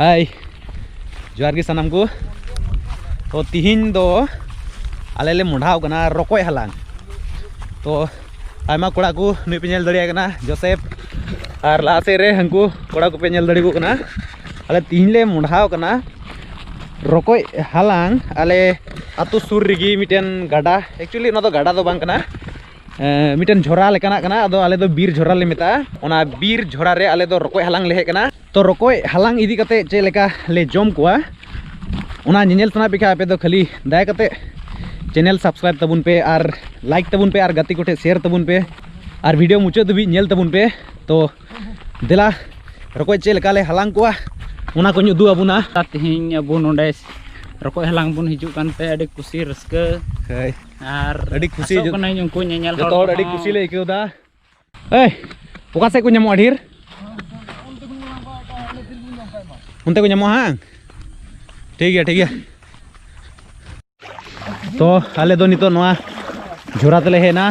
ᱦᱟᱭ ᱡᱚᱦᱟᱨ ᱜᱮ ᱥᱟᱱᱟᱢ ᱠᱚ ᱛᱚ ᱛᱤᱦᱤᱧ ᱫᱚ ᱟᱞᱮ ᱞᱮ ᱢᱚᱰᱷᱟᱣ ᱠᱟᱱᱟ ᱨᱚᱠᱚᱡ ᱦᱟᱞᱟᱝ ᱛᱚ ᱟᱭᱢᱟ ᱠᱚᱲᱟ ᱠᱚ ᱱᱩᱭ ᱯᱮ ᱧᱮᱞ ᱫᱟᱲᱮᱭᱟᱭ ᱠᱟᱱᱟ ᱡᱚᱥᱮᱯ ᱟᱨ ᱞᱟᱦᱟ ᱥᱮᱫ ᱨᱮ ᱦᱟᱹᱱᱠᱩ ᱠᱚᱲᱟ ᱠᱚᱯᱮ ᱧᱮᱞ ᱫᱟᱲᱮ ᱠᱚ ᱠᱟᱱᱟ ᱟᱞᱮ ᱛᱤᱦᱤᱧ ᱞᱮ ᱢᱚᱰᱷᱟᱣ ᱠᱟᱱᱟ ᱨᱚᱠᱚᱡ ᱦᱟᱞᱟᱝ ᱟᱞᱮ ᱟᱛᱳ ᱥᱩᱨ ᱨᱮᱜᱮ ᱢᱤᱫᱴᱮᱱ ᱜᱟᱰᱟ ᱮᱠᱪᱩᱭᱮᱞᱤ ᱚᱱᱟ ᱫᱚ ᱜᱟᱰᱟ ᱫᱚ ᱵᱟᱝ ᱠᱟᱱᱟ ᱢᱤᱫᱴᱮᱱ ᱡᱷᱚᱨᱟ ᱞᱮᱠᱟᱱᱟᱜ ᱠᱟᱱᱟ ᱟᱫᱚ ᱟᱞᱮ ᱫᱚ ᱵᱤᱨ ᱡᱷᱚᱨᱟ ᱞᱮ ᱢᱮᱛᱟᱜᱼᱟ ᱚᱱᱟ ᱵᱤᱨ ᱡᱷᱚᱨᱟ ᱨᱮ ᱟᱞᱮ ᱫᱚ ᱨᱚᱠᱚᱡ ᱦᱟᱞᱟᱝ ᱞᱮ ᱦᱮᱡ ᱠᱟᱱᱟ ᱛᱚ ᱨᱚᱠᱚᱡ ᱦᱟᱞᱟᱝ ᱤᱫᱤ ᱠᱟᱛᱮ ᱪᱮᱫ ᱞᱮᱠᱟ ᱞᱮ ᱡᱚᱢ ᱠᱚᱣᱟ ᱚᱱᱟ ᱧᱮᱧᱮᱞ ᱥᱟᱱᱟ ᱯᱮ ᱠᱷᱟᱡ ᱟᱯᱮ ᱫᱚ ᱠᱷᱟᱹᱞᱤ ᱫᱟᱭᱟ ᱠᱟᱛᱮ ᱪᱮᱱᱮᱞ ᱥᱟᱵᱥᱠᱨᱟᱭᱤᱵ ᱛᱟᱵᱚᱱ ᱯᱮ ᱟᱨ ᱞᱟᱭᱤᱠ ᱛᱟᱵᱚᱱ ᱯᱮ ᱟᱨ ᱜᱟᱛᱮ ᱠᱚᱴᱷᱮ ᱥᱮᱭᱟᱨ ᱛᱟᱵᱚᱱ ᱯᱮ ᱟᱨ ᱵᱷᱤᱰᱤᱭᱳ ᱢᱩᱪᱟᱹᱫ ᱫᱷᱟᱹᱵᱤᱡ ᱧᱮᱞ ᱛᱟᱵᱚᱱ ᱯᱮ ᱛᱚ ᱫᱮᱞᱟ ᱨᱚᱠᱚᱡ ᱪᱮᱫ ᱞᱮᱠᱟ ᱞᱮ ᱦᱟᱞᱟᱝ ᱠᱚᱣᱟ ᱚᱱᱟ ᱠᱚᱧ ᱩᱫᱩᱜ ᱟᱵᱚᱱᱟ ᱛᱮᱦᱮᱧ ᱟᱵᱚ ᱱᱚᱰᱮ ᱨᱚᱠᱚᱡ ᱦᱟᱞᱟᱝ ᱵᱚᱱ ᱦᱤᱡᱩᱜ ᱠᱟᱱᱛᱮ ᱟᱹᱰᱤ ᱠᱩᱥᱤ ᱨᱟᱹᱥᱠᱟᱹ ᱟᱨ ᱟᱹᱰᱤ ᱠᱷᱩᱥᱤ ᱟᱥᱚᱜ ᱠᱟᱹᱱᱟᱹᱧ ᱩᱱᱠᱩ ᱧᱮᱧᱮᱞ ᱡᱚᱛᱚ ᱦᱚᱲ ᱟᱹᱰᱤ ᱠᱩᱥᱤ ᱞᱮ ᱟᱹᱭᱠᱟᱹᱣ ᱫᱟ ᱮᱭ ᱚᱠᱟ ᱥᱮᱫ ᱠᱚ ᱧᱟᱢᱚᱜᱼᱟ ᱰᱷᱮᱨ ᱚᱱᱛᱮ ᱠᱚ ᱧᱟᱢᱚᱜᱼᱟ ᱦᱟᱝ ᱴᱷᱤᱠ ᱜᱮᱭᱟ ᱴᱷᱤᱠ ᱜᱮᱭᱟ ᱛᱚ ᱟᱞᱮ ᱫᱚ ᱱᱤᱛᱚᱜ ᱱᱚᱣᱟ ᱡᱷᱚᱨᱟ ᱛᱮᱞᱮ ᱦᱮᱡ ᱮᱱᱟ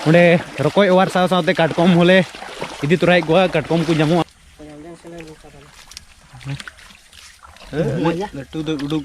ᱚᱸᱰᱮ ᱨᱚᱠᱚᱡ ᱚᱣᱟᱨ ᱥᱟᱶ ᱥᱟᱶᱛᱮ ᱠᱟᱴᱠᱚᱢ ᱦᱚᱸᱞᱮ ᱤᱫᱤ ᱛᱚᱨᱟᱭᱮᱫ ᱠᱚᱣᱟ ᱠᱟᱴᱠᱚᱢ ᱠᱚ ᱧᱟᱢᱚᱜᱼᱟ ᱞᱟᱹᱴᱩ ᱫᱚ ᱩᱰᱩᱠ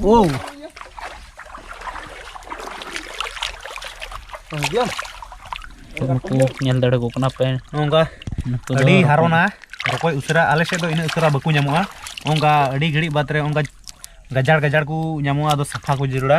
Wow. ᱱᱩᱠᱩ ᱧᱮᱞ ᱫᱟᱲᱮ ᱠᱚ ᱠᱟᱱᱟ ᱯᱮ ᱱᱚᱝᱠᱟ ᱟᱹᱰᱤ ᱦᱟᱨᱚᱱᱟ ᱨᱚᱠᱚᱡ ᱩᱥᱟᱹᱨᱟ ᱟᱞᱮ ᱥᱮᱫ ᱫᱚ ᱤᱱᱟᱹᱜ ᱩᱥᱟᱹᱨᱟ ᱵᱟᱠᱚ ᱧᱟᱢᱚᱜᱼᱟ ᱚᱱᱠᱟ ᱟᱹᱰᱤ ᱜᱷᱟᱹᱲᱤᱡ ᱵᱟᱫᱽ ᱨᱮ ᱚᱱᱠᱟ ᱜᱟᱡᱟᱲ ᱜᱟᱡᱟᱲ ᱠᱚ ᱧᱟᱢᱚᱜᱼᱟ ᱟᱫᱚ ᱥᱟᱯᱷᱟ ᱠᱚ ᱡᱟᱹᱨᱩᱲᱟ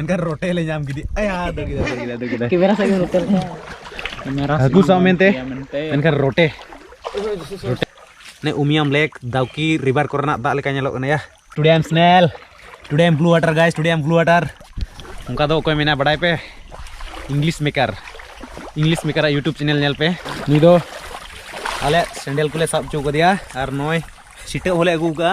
ᱮᱱᱠᱷᱟᱱ ᱨᱚᱴᱮ ᱞᱮ ᱧᱟᱢ ᱠᱮᱫᱮ ᱟᱭᱟ ᱫᱟᱹᱲ ᱠᱮᱫᱟ ᱫᱟᱹᱲ ᱠᱮᱫᱟ ᱫᱟᱹᱲ ᱠᱮᱫᱟ ᱠᱮᱢᱮᱨᱟ ᱥᱟᱡ ᱨᱚᱴᱮ ᱞᱮᱠᱟ ᱠᱮᱢᱮᱨᱟ ᱦᱟᱹᱠᱩ ᱥᱟᱵ ᱢᱮᱱᱛᱮ ᱮᱱᱠᱷᱟᱱ ᱨᱚᱴᱮ ᱨᱚᱴᱮ ᱱᱮ ᱩᱢᱤᱭᱟᱢ ᱞᱮᱠ ᱫᱟᱣᱠᱤ ᱨᱤᱵᱟᱨ ᱠᱚᱨᱮᱱᱟᱜ ᱫᱟᱜ ᱞᱮᱠᱟ ᱧᱮᱞᱚᱜ ᱠᱟᱱᱟ ᱭᱟ today I am snail today I am blue water guys today I am blue water ᱚᱱᱠᱟ ᱫᱚ ᱚᱠᱚᱭ ᱢᱮᱱᱟ ᱵᱟᱰᱟᱭ ᱯᱮ ᱤᱝᱞᱤᱥ ᱢᱮᱠᱟᱨ ᱤᱝᱞᱤᱥ ᱢᱮᱠᱟᱨᱟᱜ ᱤᱭᱩᱴᱩᱵᱽ ᱪᱮᱱᱮᱞ ᱧᱮᱞ ᱯᱮ ᱱᱩᱭ ᱫᱚ ᱟᱞᱮ ᱥᱮᱸᱰᱮᱞ ᱠᱚᱞᱮ ᱥᱟᱵ ᱦᱚᱪᱚ ᱠᱟᱫᱮᱭᱟ ᱟᱨ ᱱᱚᱜᱼᱚᱭ ᱥᱤᱴᱟᱹ ᱦᱚᱸᱞᱮ ᱟᱹᱜᱩ ᱠᱟᱜᱼᱟ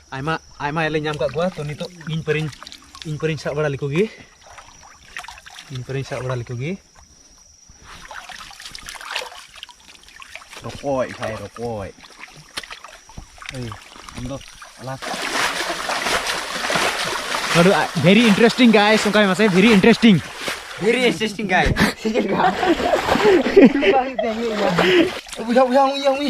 ᱟᱭᱢᱟ ᱟᱭᱢᱟ ᱞᱮ ᱧᱟᱢ ᱠᱟᱜ ᱠᱚᱣᱟ ᱛᱚ ᱱᱤᱛᱚᱜ ᱤᱧ ᱯᱟᱹᱨᱤᱧ ᱤᱧ ᱯᱟᱹᱨᱤᱧ ᱥᱟᱵ ᱵᱟᱲᱟ ᱞᱮᱠᱚ ᱜᱮ ᱤᱧ ᱯᱟᱹᱨᱤᱧ ᱥᱟᱵ ᱵᱟᱲᱟ ᱞᱮᱠᱚ ᱜᱮ ᱨᱚᱠᱚᱡ ᱵᱷᱟᱭ ᱨᱚᱠᱚᱡ ᱮᱭ ᱟᱢ ᱫᱚ ᱟᱞᱟ ᱵᱷᱮᱨᱤ ᱤᱱᱴᱟᱨᱮᱥᱴᱤᱝ ᱜᱟᱭᱥ ᱚᱱᱠᱟ ᱢᱟᱥᱮ ᱵᱷᱮᱨᱤ ᱤᱱᱴᱟᱨᱮᱥᱴᱤᱝ ᱵᱷᱮᱨᱤ ᱤᱱᱴᱟᱨᱮᱥᱴᱤᱝ ᱜᱟᱭ ᱵᱩᱡᱷᱟᱹᱣ ᱵᱩᱡᱷᱟᱹᱣ ᱩᱭ ᱩᱭ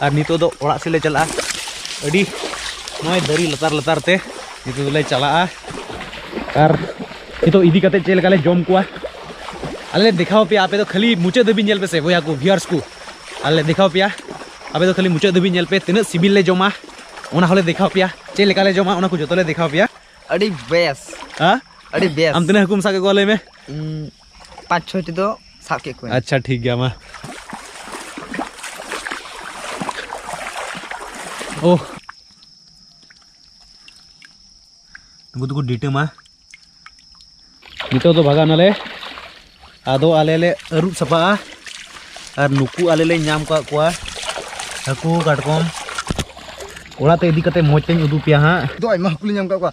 ᱟᱨ ᱱᱤᱛᱚᱜ ᱫᱚ ᱚᱲᱟᱜ ᱥᱮᱫ ᱞᱮ ᱪᱟᱞᱟᱜᱼᱟ ᱟᱹᱰᱤ ᱱᱚᱜᱼᱚᱭ ᱫᱟᱨᱮ ᱞᱟᱛᱟᱨ ᱞᱟᱛᱟᱨ ᱛᱮ ᱱᱤᱛᱚᱜ ᱫᱚᱞᱮ ᱪᱟᱞᱟᱜᱼᱟ ᱟᱨ ᱱᱤᱛᱚᱜ ᱤᱫᱤ ᱠᱟᱛᱮ ᱪᱮᱫ ᱞᱮᱠᱟᱞᱮ ᱡᱚᱢ ᱠᱚᱣᱟ ᱟᱞᱮ ᱞᱮ ᱫᱮᱠᱷᱟᱣ ᱯᱮᱭᱟ ᱟᱯᱮ ᱫᱚ ᱠᱷᱟᱹᱞᱤ ᱢᱩᱪᱟᱹᱫ ᱫᱷᱟᱹᱵᱤᱡ ᱧᱮᱞ ᱯᱮᱥᱮ ᱵᱚᱭᱦᱟ ᱠᱚ ᱵᱷᱤᱭᱟᱨᱥ ᱠᱚ ᱟᱞᱮ ᱞᱮ ᱫᱮᱠᱷᱟᱣ ᱯᱮᱭᱟ ᱟᱯᱮ ᱫᱚ ᱠᱷᱟᱹᱞᱤ ᱢᱩᱪᱟᱹᱫ ᱫᱷᱟᱹᱵᱤᱡ ᱧᱮᱞ ᱯᱮ ᱛᱤᱱᱟᱹᱜ ᱥᱤᱵᱤᱞ ᱞᱮ ᱡᱚᱢᱟ ᱚᱱᱟ ᱦᱚᱸᱞᱮ ᱫᱮᱠᱷᱟᱣ ᱯᱮᱭᱟ ᱪᱮᱫ ᱞᱮᱠᱟᱞᱮ ᱡᱚᱢᱟ ᱚᱱᱟ ᱠᱚ ᱡᱚᱛᱚ ᱞᱮ ᱫᱮᱠᱷᱟᱣ ᱯᱮᱭᱟ ᱟᱹᱰᱤ ᱵᱮᱥ ᱦᱮᱸ ᱟᱹᱰᱤ ᱵᱮᱥ ᱟᱢ ᱛᱤᱱᱟᱹᱜ ᱦᱟᱹᱠᱩᱢ ᱥᱟᱵ ᱠᱮᱫ ᱠᱚᱣᱟ ᱞᱟᱹᱭ ᱢᱮ ᱤᱧ ᱯᱟᱸᱪ ᱪᱷᱚᱭᱴᱤ ᱫᱚ ᱥᱟᱵ ᱠᱮᱫ ᱠᱚᱣᱟ ᱟᱪᱪᱷᱟ ᱴᱷᱤᱠ ᱜᱮᱭᱟ ᱢᱟ ᱳ ᱱᱩᱠᱩ ᱫᱚᱠᱚ ᱰᱤᱴᱟᱹᱢᱟ ᱱᱤᱛᱚᱜ ᱫᱚ ᱵᱷᱟᱜᱟᱣ ᱱᱟᱞᱮ ᱟᱫᱚ ᱟᱞᱮ ᱞᱮ ᱟᱹᱨᱩᱵ ᱥᱟᱯᱷᱟᱜᱼᱟ ᱟᱨ ᱱᱩᱠᱩ ᱟᱞᱮ ᱞᱮ ᱧᱟᱢ ᱠᱟᱜ ᱠᱚᱣᱟ ᱦᱟᱹᱠᱩ ᱠᱟᱴᱠᱚᱢ ᱚᱲᱟᱜ ᱛᱮ ᱤᱫᱤ ᱠᱟᱛᱮ ᱢᱚᱡᱽ ᱛᱮᱧ ᱩᱫᱩᱜ ᱯᱮᱭᱟ ᱦᱟᱸᱜ ᱫᱚ ᱟᱭᱢᱟ ᱦᱟᱹᱠᱩ ᱞᱮ ᱧᱟᱢ ᱠᱟᱜ ᱠᱚᱣᱟ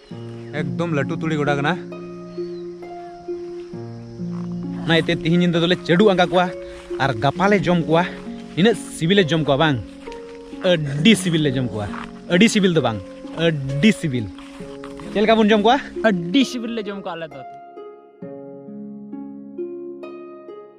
ᱮᱠᱫᱚᱢ ᱞᱟᱹᱴᱩ ᱛᱩᱲᱤ ᱜᱚᱰᱟ ᱠᱟᱱᱟ ᱚᱱᱟ ᱤᱭᱟᱹᱛᱮ ᱛᱤᱦᱤᱧ ᱧᱤᱫᱟᱹ ᱫᱚᱞᱮ ᱪᱟᱹᱰᱩ ᱟᱸᱜᱟ ᱠᱚᱣᱟ ᱟᱨ ᱜᱟᱯᱟ ᱞᱮ ᱡᱚᱢ ᱠᱚᱣᱟ ᱱᱤᱱᱟᱹᱜ ᱥᱤᱵᱤᱞᱮ ᱡᱚᱢ ᱠᱚᱣᱟ ᱵᱟᱝ ᱟᱹᱰᱤ ᱥᱤᱵᱤᱞ ᱞᱮ ᱡᱚᱢ ᱠᱚᱣᱟ ᱟᱹᱰᱤ ᱥᱤᱵᱤᱞ ᱫᱚ ᱵᱟᱝ ᱟᱹᱰᱤ ᱥᱤᱵᱤᱞ ᱪᱮᱫ ᱞᱮᱠᱟ ᱵᱚᱱ ᱡᱚᱢ ᱠᱚᱣᱟ ᱟᱹᱰᱤ ᱥᱤᱵᱤᱞ ᱞᱮ ᱡᱚᱢ ᱠᱚᱣᱟ ᱟᱞᱮ ᱫᱚ